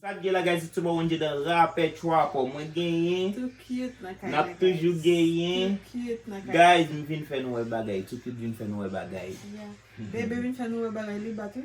Sak gen la guys it's your boy Wendyy the rapper trapper mwen genyen nap toujou genyen guys m vin fè nou wè bagay too cute vin fè nou wè bagay bebe vin fè nou wè bagay li batou.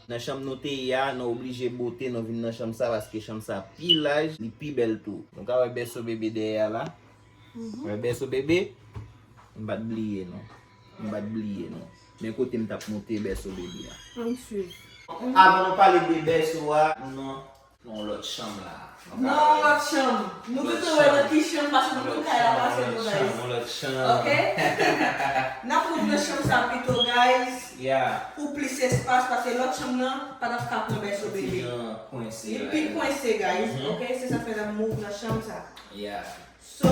Nan chanm nou te ye a, nou oblije bote nou vin nan chanm sa paske chanm sa pi laj, li pi bèl tou. Nou ka wè bèso bebe dèyè a la. Ou wè bèso bebe? M pa t bliye nou. M pa t bliye nou. Men kote m t ap monte bèso bebe a. Ann swiv. Avan nou pale de bèso a, nou nan. Nan yon lòt chanm la. Nan yon lòt chanm. Nou bezwen wè nan ki chanm paske nou konn kay la pa fè nou nice. Yon lòt chanm, yon lòt chanm. Ok? Nap moute nan chanm sa pito guys. Yeah. Pou plis espas paske lòt chanm nan pa tap ka pran bèso bebe. Li pi kwense. Li pi kwense guys. Ok? Se sa fè nap move nan chanm sa. Yeah. So,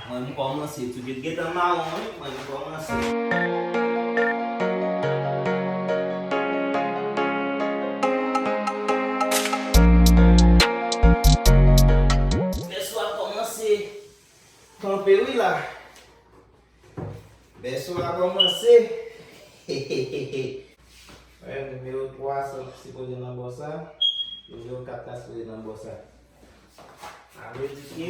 Mwen m kòmanse tou. Ket gentan mawon wi mwen m kòmanse. Bèso a kòmanse kanpe wi la. Bèso a kòmanse hehehehe. Wè nimewo 3 a sipoze nan bò sa. Nimewo 4 la sipoze nan bò sa. Sa vle di ke.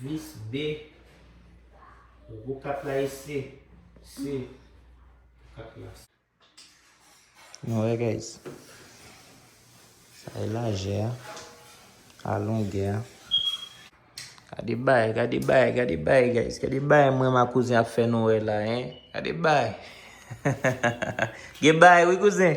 Vis B. Gwo kat la e se. Se. Kat la. Nou wè guys. Sa e lajè a. A longè a. Gade bay, gade bay, gade bay guys, gade bay mwen ma kouzen ap fè nou wè la hein, gade bay Gen bay wi kouzen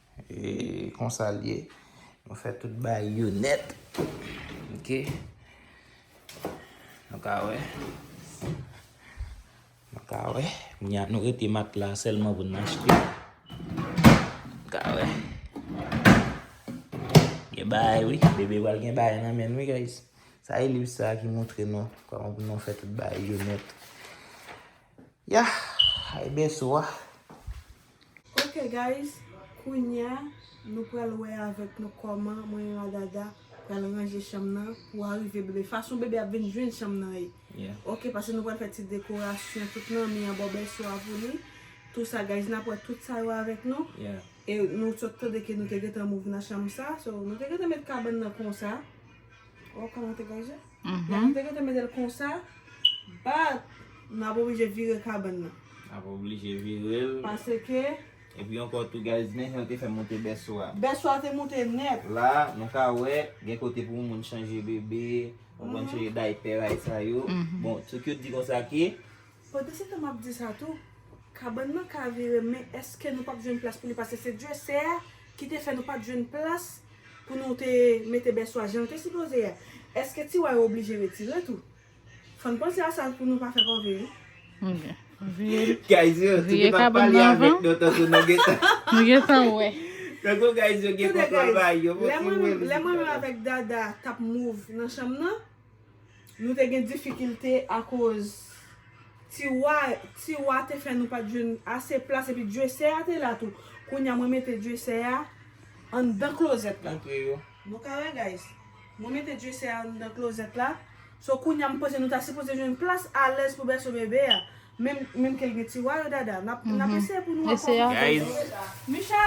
E konsa l ye. Nou fè tout bagay yo nèt. Ok. Nou ka wè. Nou ka wè. Kounya nou rete matla a sèlman pou n achte. Nou ka wè. Gen bagay wi. Bebe pral gen bagay nan men l wi guys. Sa e liv sa a ki montre nou kòman pou nou fè tout bagay yo nèt. Yah! Ay bèso a. Ok guys kounya nou pral wè avèk nou kòman mwen e Radada pral ranje chanm nan pou arive bebe fason bebe ap vin jwenn chanm nan ye ok pase nou pral fè ti dekorasyon tout nan mi an baw bèl swa pou li tou sa guys nap wè tout sa yo avèk nou e nou sot tande ke nou te gentan move nan chanm sa so nou te gentan met kabann nan konsa. Ou wè kòman l te gaje? Lè nou te gentan mete l konsa, bat, n ap oblije vire kabann nan. N ap oblije vire l. Paske. Epi ankò tou guys, men jan yo te fè monte bèso a. Bèso a te monte nèt. La, nou ka wè, gen kote pou moun chanje bebe, konprann, chanje daypè, bagay sa yo. Bon, tout yo di konsa ke, Pandansetan map di sa tou, kabann nan ka vire men eske nou pap jwenn plas pou li pase se Dye sè a ki te fè nou pat jwenn plas pou nou te mete bèso a janl te sipoze a eske tiwa yo oblije retire tou fòn panse a sa pou nou pa fè kòve wi. Guys yo nou te pap pale avèk nou tankou nou gentan nou gentan wè tankou guys yo gen kontwòl ba yo mwen trivem li Tande guys lè mwen menm avèk Dada tap move nan chanm nan. Nou te gen difikilte akoz tiwa tiwa te fè nou pat jwenn ase plas epi dyesè a te la tou kounya mwen mete dyesè a anndan klozèt la nou ka wè guys mwen mete dyesè a anndan klozèt la so kounya m panse nou ta sipoze jwenn plas alèz pou bèso bebe a menm menm kel gen tiwa yo dada nap nap eseye pou nou ankò Micha.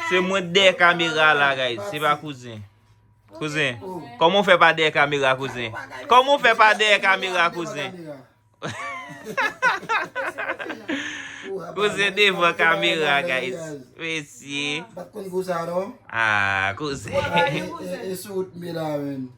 Se mwen dè kamera la guys se pa kouzen Kouzen Koman ou fè pa dè kamera kouzen Koman ou fè pa dè kamera kouzen Kouzen devan kamera guys Mesye Aaa kouzen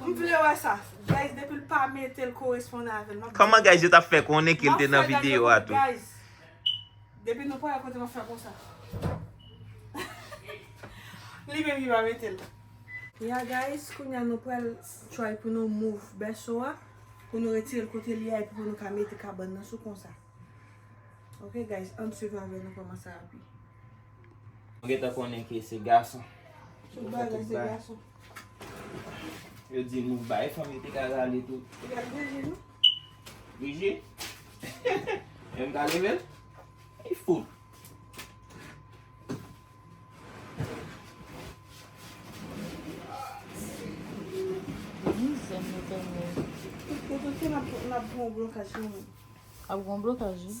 M vle wè sa. Guys depil pa metel koresponde avèl map Koman guys yo tap fè konnen kel te nan video a tou. Guys depi nou pa wè kote map fè konsa. Li menm ki pa metel. Ya guys kounya nou pral try pou nou move bèso a pou nou retirel kote li a epi pou nou ka mete kabann nan sou konsa. Ok guys ann swiv avèm nou koman sa ap ye. Mwen gentan konnen ke se gason. Tout bagay se gason. Yo di nou bay fanm yo te ka rale tou. Yo pa di bouji nou. Bouji? Yo m ka leve l? Li fou. Ap gon blokaj wi.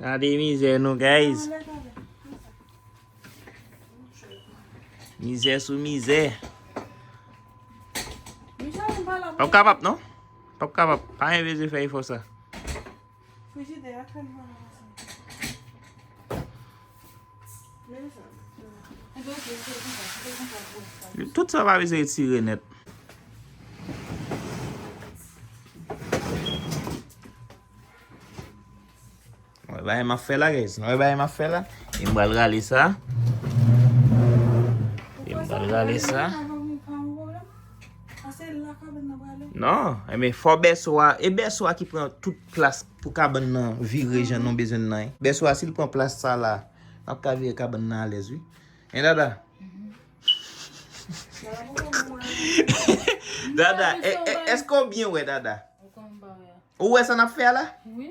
Gade mizè nou guys. Mizè sou mizè. Pap kapap non. Pap kapap. Pa yon veze fè yon fò sa. Frijidè a kèm nan. Tout sa pa bezwen etire nèt. Mwen ba yon ma fè la guys. Mwen ba yon ma fè la. Yon e bal rale sa. Yon e bal rale sa. Non. Yon e fò bè swa. E bè swa ki pran tout plas. Pou kabann nan vire jan nou bezwen l lan. Bèso a si l pran plas sa la, l ap ka vire kabann nan alèz wi. Hein Dada? Dada, èske ou byen wè Dada? Ou wè sa n ap fè a la? Wi.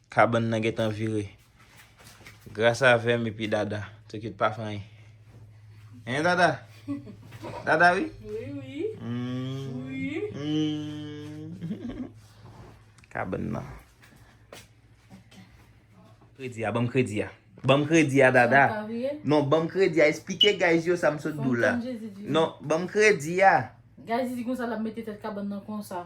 Kabann nan gentan vire. Gras avèm epi Dada. Tokyo t pa fè anyen. Hein Dada? Dada wi? Wi wi. Kabann nan. Kredi a, banm kredi a. Banm kredi a Dada. Sa pa vire? Non, banm kredi a. Esplike guys yo sa m sot di w la. Fè m tann Jezi di. Non, banm kredi a. Guys di konsa l ap mete tèt kabann nan konsa.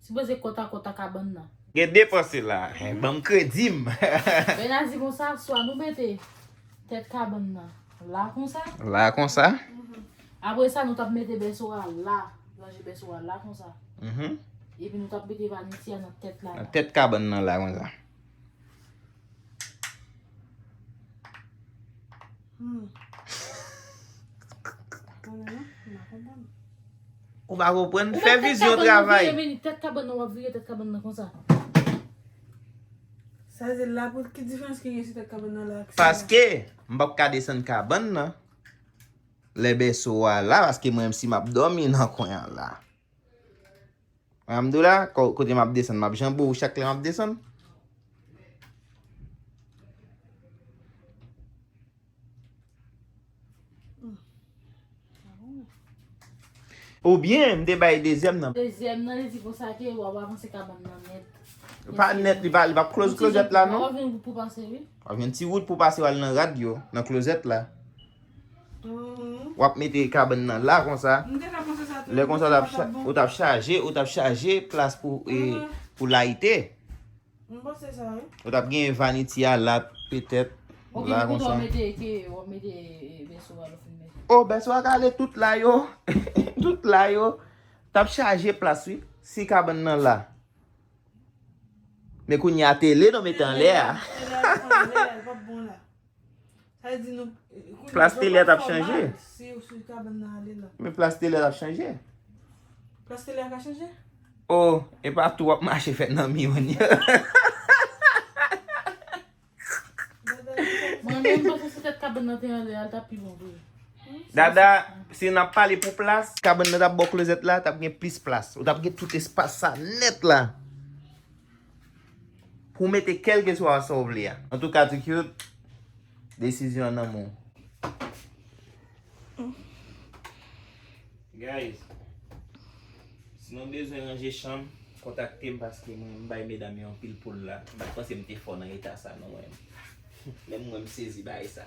Sipoze kòt a kòt a kabann nan. Gen depanse la, banm kredim. Bernard di konsa, swa nou mete tèt kabann nan la konsa. La konsa. Apre sa nou tap mete bèso a la, ranje bèso a la konsa. Epi nou tap mete vaniti a nan tèt la. Nan tèt kabann nan la konsa. Ou pa konprann, fè vizyon travay. Ou mèt tèt kabann nan wap vire tèt kabann nan konsa. Sa vle di la pou ki diferans ki gen si tèt kabann nan la ak sa. Paske, m pap ka desann kabann nan. Lè bèso a la, paske mwen menm si map dòmi nan kwen an la. Wè m dou la, kote m ap desann, m ap janbe w chak lè m ap desann. Ou byen, m te bay dezyèm nan. Dezyèm nan, li di pou sa ke wap avanse kabann nan nèt. Pa nèt, li pa close klozèt la non. Wap gen yon wout pou pase wi. Wap gen yon ti wout pou pase wal nan rad yo, nan klozèt la. Wap mete kabann nan la konsa. Lè konsa ou tap chaje, ou tap chaje plas pou layite. Ou tap gen vaniti a la petèt. O bèso a kale tout la yo. Tout la yo. Tap chaje plas wi. Si kabann nan la. Men kounye a tele nou mete anle a. Plas telè tap chanje. Men plas telè tap chanje. Plas telè tap chanje. Oh, e pa tou wap mache fè nan mi yon yo. Mwen menm mwen se sitèt kaban nan te yon lè al tap pi bon vre. Dada, si nan pale pou plas. Kaban nan tap bo klozèt la, tap gen plis plas. Ou tap gen tout espas sa net la. Pou w mete kèlkeswa a sa w vle a. Antouka ti cute, desizyon an nan men w. Guys, si nou bezwen ranje chanm, kontakte m paske mwen m bay medam yo anpil poul la. M pa t panse m te fò nan eta sa non mwen. Menm mwen m sezi bagay sa.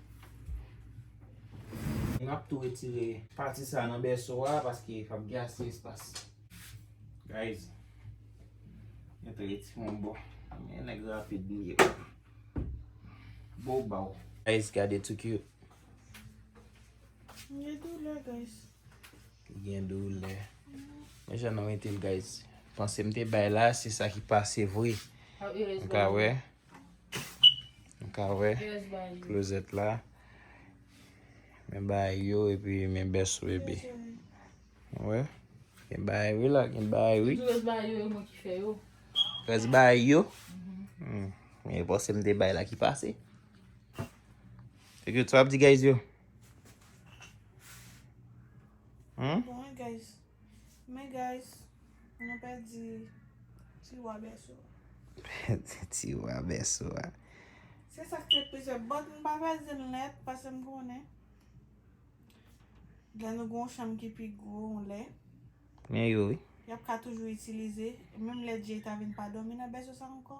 Nap tou retire pati sa nan bèso a paske pap gen ase espas guys mwen te reti yon bò men nèg rapid m ye bo baw guys gade tou cute li gen doulè guys li gen doulè men jan nou metel guys panse m te bay la se sa ki pase vre ou ka wè. Nou ka wè klozèt la. Men bagay yo epi men bèso bebe. Ou wè? Gen bagay wi la, gen bagay wi. Rès bagay yo e mwen ki fè yo. Rès bagay yo? Mwen te panse m te bay la ki pase. Ekriot, sa w ap di guys yo? Bon e guys. Men guys nou pèdi ti wa bèso a. Pèdi ti wa bèso a. Se sak fè plizyè bòt m pa pral di l nèt pase m konnen lè nou gen yon chanm ki pi gwo yon lè. Men yo wi. Y ap ka toujou itilize menm lè Jay ta vin pa dòmi nan bèso sa ankò.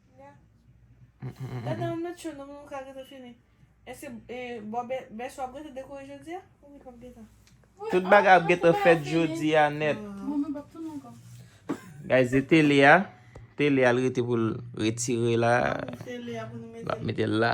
Tout bagay ap gentan fèt jodi a nèt. Guys e tele a. Tele a li rete pou l retire la. L ap mete l la.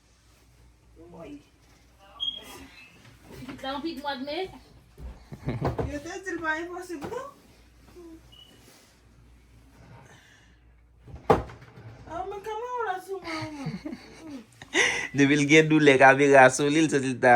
Depil gen doulè kamera a sou li l santi l ta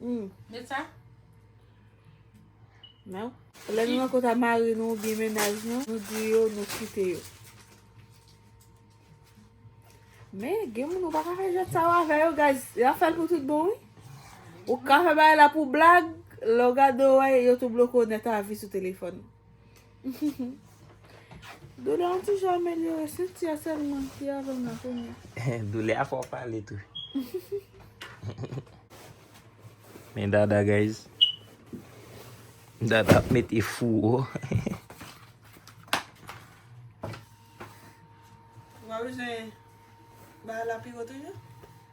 Hum. Met sa. Nou. Lè nou nan kota mari nou ou byen menaj nou, nou di yo nou kite yo. Men, gen moun ou pa ka fè jwèt sa yo avè yo, guys. Yo ap fè l pou tout bon, wi. Ou ka fè bagay la pou blag, lè w gade yo wè, yo tou bloke w nèt a vi sou telefòn. Doulè an ti jan amelyore, se ti a sèlman ki avè m la kounye a. Doulè a fè w pale tou. Men Dada guys. Dada ap mete fouwo. Ou pa bezwen bay la pi wo toujou?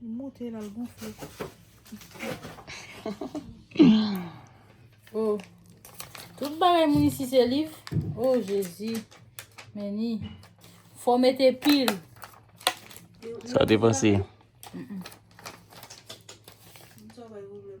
Li moute la l gonfle. Oh. Tout bagay moun isi se liv. Oh Jezi. Meni. Fò mete pil. Sa te panse. Mwen sa bay ou mwen.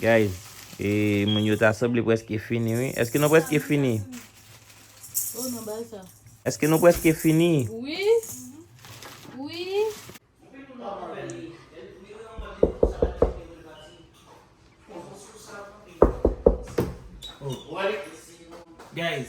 Guys e moun yo ta sanble preske fini wi eske nou preske fini eske nou preske fini guys.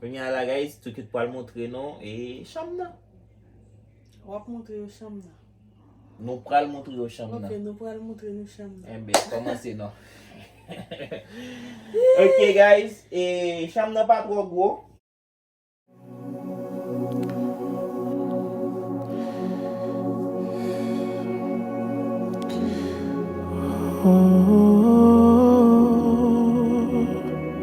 Kounye a la guys, Tookut pral montre nou e chanm nan. Wap montre yo chanm nan. Nou pral montre yo chanm nan. Ok, nou pral montre nou chanm nan. Enbe, eh komanse non. Ok guys, e chanm nan pa tro gwo.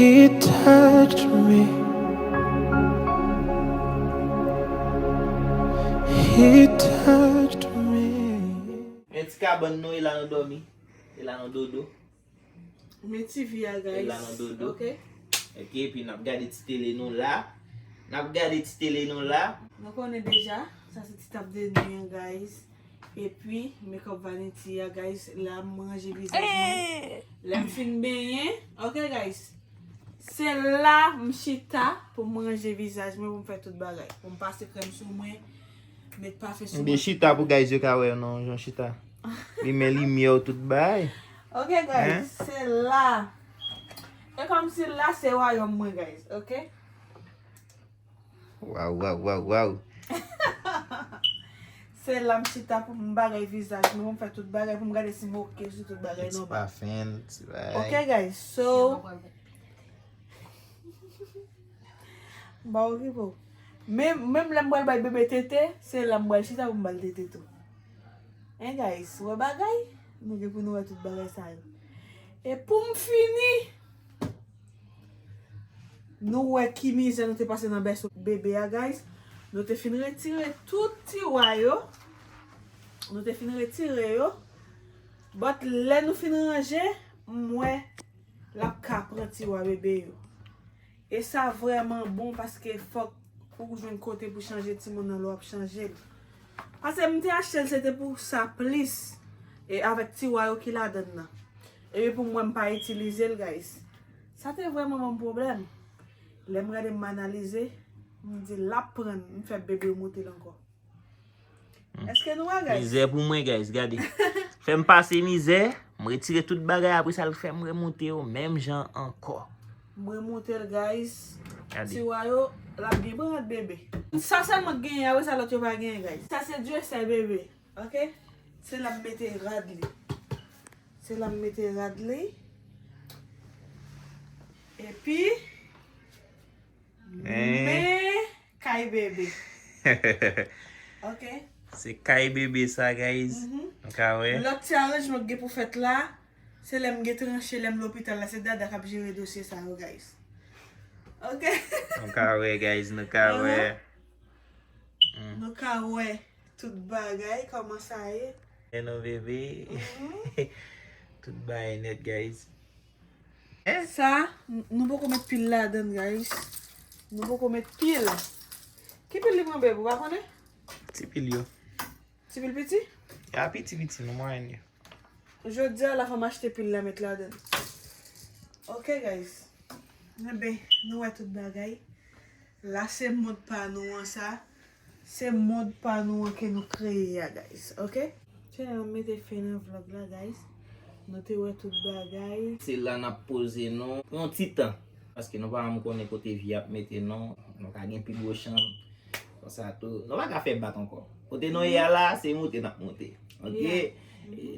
He touched me He touched me Men ti kabann nou e la nan dòmi e la nan dodo Men ti vi a guys e la nan dodo ok ok epi nap gade ti tele nou la nap gade ti tele nou la nou konnen deja sa se ti tap de nu an guys. Epi make up vanity a guys la m ranje vizaj mwen lèm fin benyen ok guys se la m chita pou m ranje vizaj mwen pou m fè tout bagay pou m pase krèm sou mwen met pafen sou mwen. M byen chita pou guys yo ka wè non jan chita limen limyè w tout bagay ok guys se la e kòmsi la se wayòm mwen guys ok. Waw waw waw waw. Se la m chita pou m bagay vizaj mwen pou m fè tout bagay pou m gade si m ok sou tout bagay nòmal. Ti pafen, ti bagay. Ok guys, so M pa okipe w. Menm lè m pral bay bebe tete, se la m pral chita pou m ba l tete tou. Hein guys, wè bagay? Nou gen pou nou wè tout bagay sa yo. E pou m fini! Nou wè ki mizè nou te pase nan bèso bebe a guys. Nou te fin retire tout tiwa yo. Nou te fin retire yo. But lè nou fin ranje, m wè lap ka pran tiwa bebe yo. E sa vreman bon paske fok ou jwenn kote pou chanje timoun nan lè wap chanje l. Pase m te achte l se te pou sa plis. E avèk tiwa yo ki ladan nan. Epi pou mwen m pa itilize l guys. Sa te vrèman banm pwoblèm. Lè m gade m analize, m di lap pran m, m fè bebe moute l ankò. Eske nou wè guys? Mizè pou mwen guys, gade. Fè m pase mizè, m retire tout bagay apre sa l fè m remoute yo menm jan ankò. M remoute l guys. Gade. Tiwa yo, lap byen pran ak bebe. Sa sèlman k genyen, apre sa lòt yo pa genyen guys. Sa se duracell bebe. Ok se la mete rad li. Se la mete rad li. Epi. Me kay bebe. Ok. Se kay bebe sa guys. Lot ti aranjman ki gen pou fet la. Se lem gen tranche lem lopital la. Se dada kap jere dosye sa yo guys. Ok. Nou ka we guys nou ka we. Nou ka we. Tout bagay koman sa ye. Enh non bebe tout bagay net guys. Sa Nou poko met pil ladann guys Nou poko met pil Ki pil li pran beb ou pa konnen? Ti pil yo. Ti pil piti? Ya piti piti nan mwayenn yo. Jodia la fem achte pil la met ladann ok guys. Enben nou wè tout bagay. La se mont pa nou an sa. Se mond pa nou an ke nou kreye a guys ok. Se la nap mete fen nan vlog la guys nou te wè tout bagay. Se la nap poze nou pou yon ti tan. Paske nou pa janm konnen kote vi ap mete nou. Nou ka gen pi gwo chanm konsa tou. Nou pa ka fè bak ankò. Kote nou ye a la se moute nap moute ok.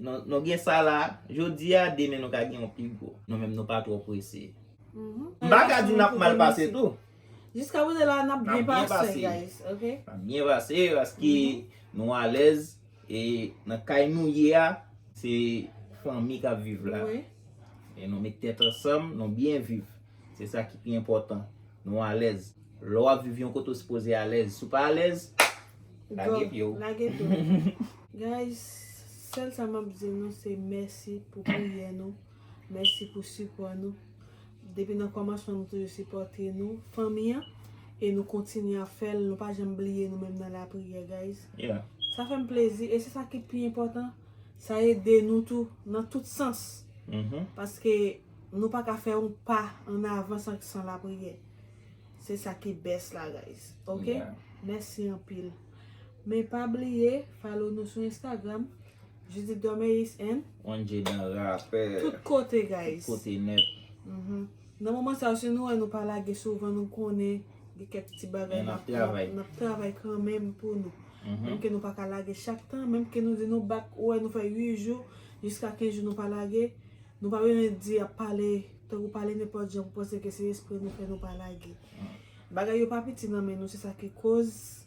Nou gen sa la jodi a demen nou ka gen yon pi gwo. Nou menm nou pa twò prese. M pa ka di nap mal pase tou. Jiska kote la nap byen pase guys ok. Nap byen pase paske nou alèz e nan kay nou ye a se fanmi kap viv la e nou met tèt ansanm nou byen viv se sa ki pi enpòtan nou alèz lè wap viv yon kote ou sipoze alèz si w pa alèz lage pye w. Guys sèl sa map di nou se mèsi pou priyè nou. Mèsi pou sipò nou. Depi nan kòmansman nou toujou sipòte nou, fanmi an, e nou kontinye ap fè l, nou pa janm bliye nou menm nan lapriyè guys. Sa fè m plezi e se sa ki pi enpòtan, sa ede nou tou nan tout sans. Paske nou pa ka fè yon pa an avan san lapriyè. Se sa ki best la guys. Ok? Mèsi anpil. Men pa bliye follow nou sou Instagram. Judith Dormeus and. Wanje Dan rapè. Tout kote guys. Tout kote net. Nan moman sa yo si nou wè nou pa lage souvan nou konnen gen kèk piti bagay. Men nap travay. Nap travay kanmenm pou nou. Menm ke nou pa ka lage chak tan. Menm ke nou di nou bak ou wè nou fè 8 jou. Jiska 15 jou nou pa lage. Nou pa bezwen di ap pale. Tankou pale nenpòt jan pou panse ke se espre nou fè nou pa lage. Bagay yo pa piti nan men nou se sa ki koz.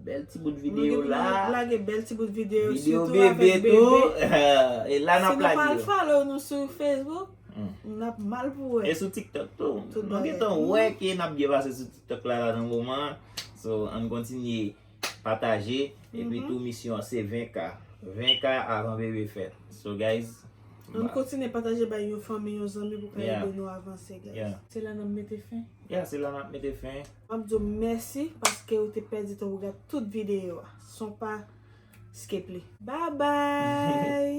Bel ti bout video la. Mwen gen pou nou lage bel ti bout video. Video bebe tou. E la nap lage yo. Si nou pa follow nou sou Facebook. Nap mal pou we. E sou tiktok tou. Mwen gen tan we ke nap byen pase sou tiktok la la nan moman. So an kontinye pataje. E pi tou misyon se 20k. 20k avan bebe fet. So guys. An kontinye pataje bay yon fanmi yon zanmi pou ka ede nou avanse guys. Se la nap mete fen. Ya se la nap mete fen. Map diw mèsi paske ou te pèdi tan pou gad tout videyo a son pa skip li. Bye bye.